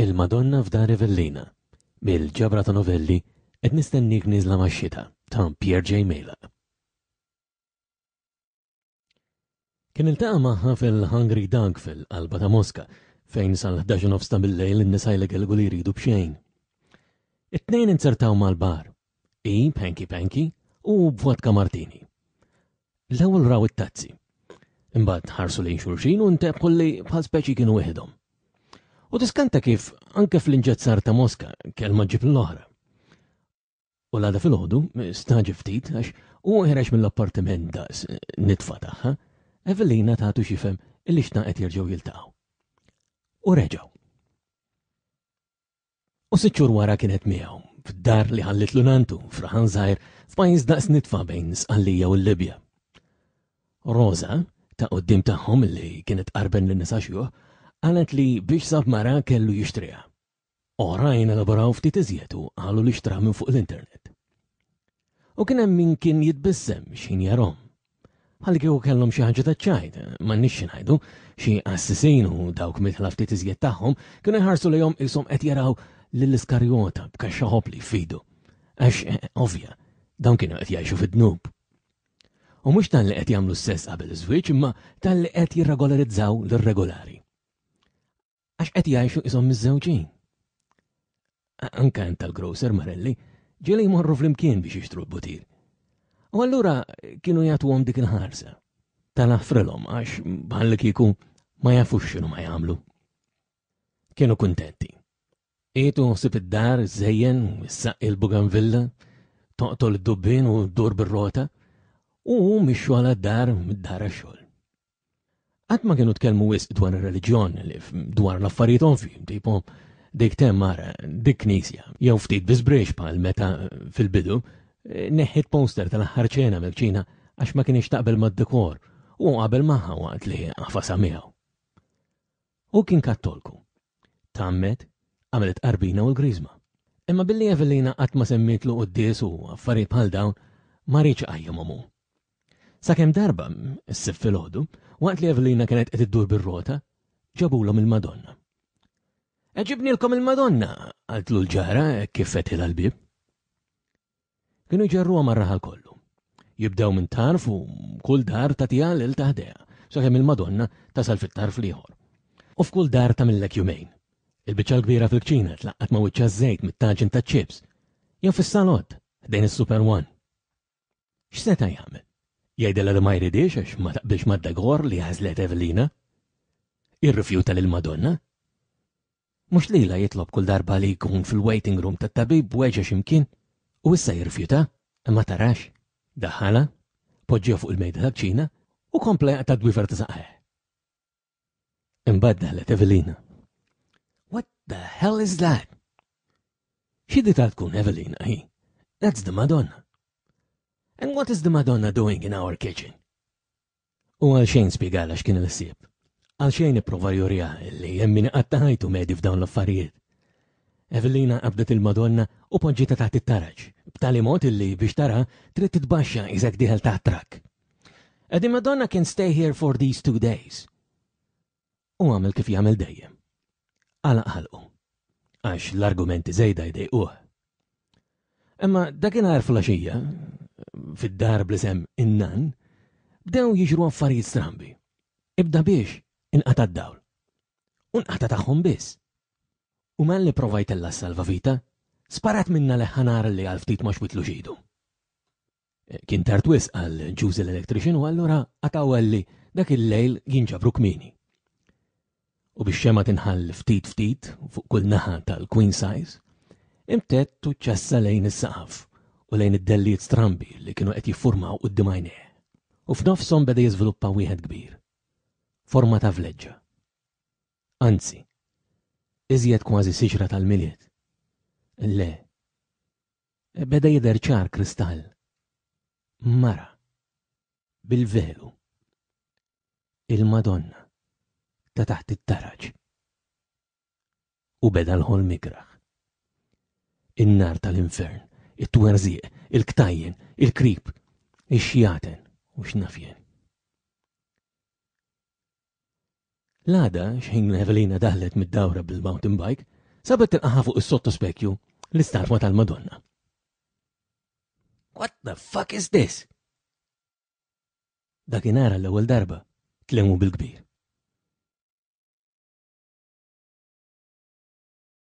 Il-Madonna f'Dar Rivellina mill-ġabra ta' novelli Qed nistennik nieżla max-xita ta' Pierre J. Mela. Kien iltaqa' magħha fil-Hungry Dog fil-qalba ta' Moska, fejn sal-ħdax u nofs ta' billejl in-nisa jlegelgu li jridu b'xejn. It-tnejn inzertaw mal-bar, hi b'hanky panky u hu b'vodka martini. L-ewwel raw it-tazzi. Imbagħad ħarsu lejn xulxin u ntebħu li bħal speċi kienu wieħedhom. U tiskanta kif anke fl-inġezzar ta' Moska kelma ġib l-oħra. U l-għada filgħodu, staġi ftit għax huwa ħereġ mill-appartiment daqs nitfa tagħha, Evelina tagħtu xifhem illi xtaqet jerġgħu jiltaqgħu. U reġgħu. U sitt xhur wara kienet miegħu, f'dar li ħallit lunantu, fraħan żgħir, f'pajjiż daqs nitfa' bejn Sqallija u l-Libja. Rosa, ta' qoddim tagħhom li kienet qarben lin nisa xjuħ, qalet li biex sab mara kellu jixtriha. Oħrajn elaboraw ftit iżjed u qalu li xtraha minn fuq l-internet. U kien hemm min kien jitbissem x'ħin jarahom. Bħallikieku kellhom xi ħaġa taċ-ċajt, m'għandniex xi ngħidu, xi qassisin u dawk midħla ftit iżjed tagħhom kienu jħarsu lejhom qishom qed jaraw lil Iskarjota b'kaxxa ħobli f'idu. Għax, ovvja, dawn kienu qed jgħixu fid-dnub. U mhux talli qed jagħmlu s-sess qabel iż-żwieġ imma talli qed jirregolarizzaw l-irregolari. Għax qed jgħixu qishom miżżewġin. Anke hemm tal-grocer Marelli, ġieli jmorru flimkien biex jixtru l-butir. U allura kienu jagħtuhom dik il-ħarsa. Tal-affrilhom għax bħal kieku ma jafux x'inhu ma jagħmlu. Kienu kuntenti. Qiegħdu ħsib id-dar, żejjen, issaqq il-buganvilla, toqtol id-dubbin u dur bir-rota, u mixxu għal dar mid-dar għax-xogħol. Qatt ma kienu tkellmu wisq dwar ir-reliġjon, dwar l-affarijiet ovvi, tipo dik temmar, dik knisja, jew ftit biżbriex bħal meta fil-bidu neħħiet poster tal-aħħar ċena mill-kċina għax ma kienx taqbel mad-dekor u qabel magħha waqt li għafasha miegħu. U kien kattolku. Tammet, għamilet qarbina u l-griżma. Imma billi Evelina qatt ma semmitlu quddies u affarijiet bħal dawn ma rridx qajjimhom hu. Sakemm darba, s-Sibt filgħodu, waqt li Evelina kienet qed iddur bir-rota, ġabulhom il-Madonna. Qed ġibnilkom il-Madonna, qaltlu l-ġara hekk kif fetħilha l-bieb. Kienu jġarruha mar-raħal kollu. Jibdew minn tarf u kull dar tagħtiha lil taħdeha, sakemm il-Madonna tasal fit-tarf l-ieħor. U f'kull dar tagħmillek jumejn. Il-biċċa l-kbira fil-kċina tlaqqat ma' wiċċa żejt mit-taġin taċ-ċips jew fis-salott ħdejn is-Super One. X'seta' jagħmel? Jgħidilha li ma jridhiex għax ma taqbilx mad-degor li għażlet Evelina? Jirrifjuta lill-Madonna? Mhux lilha jitlob kull darba li jkun fil-waiting room tat-tabib weġa' xi mkien u issa jirrifjuta? Imma tarax. Daħħalha, poġġieha fuq il-mejda tal-kċina u kompla jaqta' d-dwiefer ta' saqajh. Imbagħad daħlet Evelina. What the hell is that? Xi di ta' tkun Evelina hi? That's the Madonna. And what is the Madonna doing in our kitchen? U għal xejn spiegala x'kien il-ħsieb. Għal xejn ipprova jurija li hemm min qattaħajtu medi f'dawn l-affarijiet. Evelina qabdet il-Madonna u poġġita taħt it-taraġ, b'tali mod illi biex tara trid titbaxxa iżek diħel taħt trak. Ed il-Madonna can stay here for these two days. U għamel kif jagħmel dejjem. Għala ħalqu. Għax l-argumenti żejda jdejquh. Imma dakinhar flaxija, fid-dar blisem innan, bdew jiġru affarijiet strambi. Ibda biex inqata' d-dawl. Unqata tagħhom biss. U man li provajtella s-salvavita, sparat minna leħħanar li għal ftit ma xwitlu xidu. Kien tard wisq għal Ġużi l-electrician u allura qatgħu għalli dak il-lejl jinġabru kmieni. U bix-xemgħa tinħall ftit ftit fuq kull naħa tal-queen size, imtedd u ċassa lejn is-saqaf u lejn id-dellijiet strambi li kienu qed jiffurmaw quddiem għajnejh. U f'nofshom beda jiżviluppa wieħed kbir, forma ta' vleġġa. Anzi, iżjed kważi siġra tal-Milied. Le, Beda jidher ċar kristall. Mara. Bil-velu. Il-Madonna. Ta' taħt it-taraġ. U beda l-ħolm ikraħ. In-nar tal-infern, it-twerżieq, il-ktajjen, il-krib, ix-xjaten u x'nafjen. L-għada, xħin Evelina daħlet mid-dawra bil-mountain bike, sabet tilqaha fuq is-sottospekju l-istatwa tal-Madonna. What the fuck is this? Dakinhar l-ewwel darba tlemu bil-kbir.